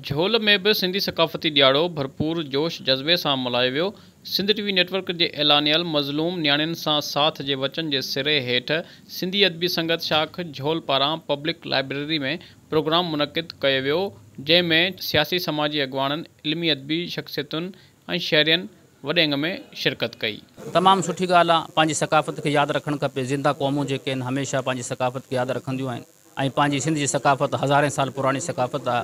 جهول ۾ به سنڌي ثقافتي ڏياڙو ڀرپور جوش جذبي سان ملهايو ويو، Sindh T V network جي اعلانيل مظلوم نياڻين سان ساٿ جي وچن جي سري هيٺ سنڌي ادبي سنگت شاخ جهول پاران پبلڪ لائبريري ۾ پروگرام منعقد ڪيو ويو جنهن ۾ سياسي سماجي اڳواڻن علمي ادبي شخصيتن ۽ شهرين وڏي انگ ۾ شرڪت ڪئي. تمام سٺي ڳالهه آ پنهنجي ثقافت کي ياد رکڻ کپي زنده قومون جيڪي آهن هميشه پنهنجي ثقافت کي ياد رکنديون آهن. ۽ پنهنجي سنڌ جي ثقافت هزارين سال پراڻي ثقافت آ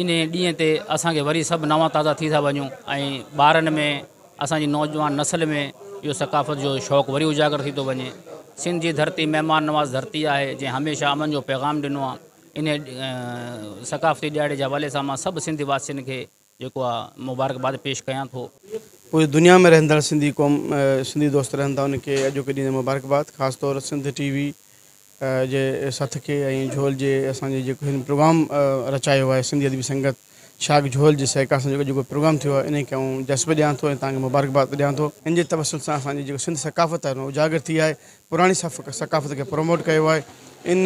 انهي ڏينهن تي اسان کي وري سڀ نوان تازا ٿي ٿا وڃون ۽ ٻارن ۾ اسان جي نوجوان نسل ۾ اهو ثقافت جو شوق وري اجاگر ٿي ٿو وڃي سنڌ جي ڌرتي مهمان نواز ڌرتي آهي جنهن هميشه امن جو پيغام ڏنو آ انهي ثقافتي ڏهاڙي جي حوالي سان مان سڀ سنڌ واسين کي جيڪو آء مبارڪباد پيش ڪيان ٿو. پوري دنيا ۾ رهندڙ سنڌي قوم سنڌي دوست رهن ٿا ان کي اڄوڪي ڏينهن مبارڪباد خاص طور سنڌ ٽي وي جي سٿ کي ۽ جهول جي اسان جي جيڪو هن پروگرام رچايو آهي سنڌي ادبي سنگت شاخ جهول جي سهڪار سان جيڪو اڄوڪو پروگرام ٿيو آهي انهي کي آئون جسب ڏيان ٿو ۽ توهان کي مبارڪباد ڏيان ٿو. ان جي توسط سان اسان جي جيڪو سنڌ ثقافت آهي ان اجاگر ٿي آهي پراڻي ثقافت کي پروموٽ ڪيو آهي ان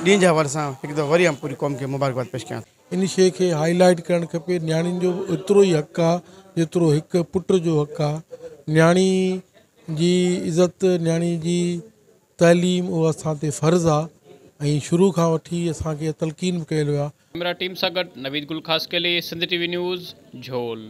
ڏينهن جي حوالي سان هڪ دفعو وري آئون پوري قوم کي مبارڪباد پيش ڪيان ٿو. ان شيء کي هائي لائيٽ ڪرڻ کپي نياڻين جو به ايترو ئي حق آ جيترو هڪ پٽ جو حق آ نياڻي جي عزت نياڻي جي تعليم اهو اسان تي فرض آ ۽ شروع کان وٺي اسان کي تلقين به ڪيل ويو آ. ڪيمرا ٽيم سان گڏ Naveed Gul Khaskheli Sindh T V news جھول.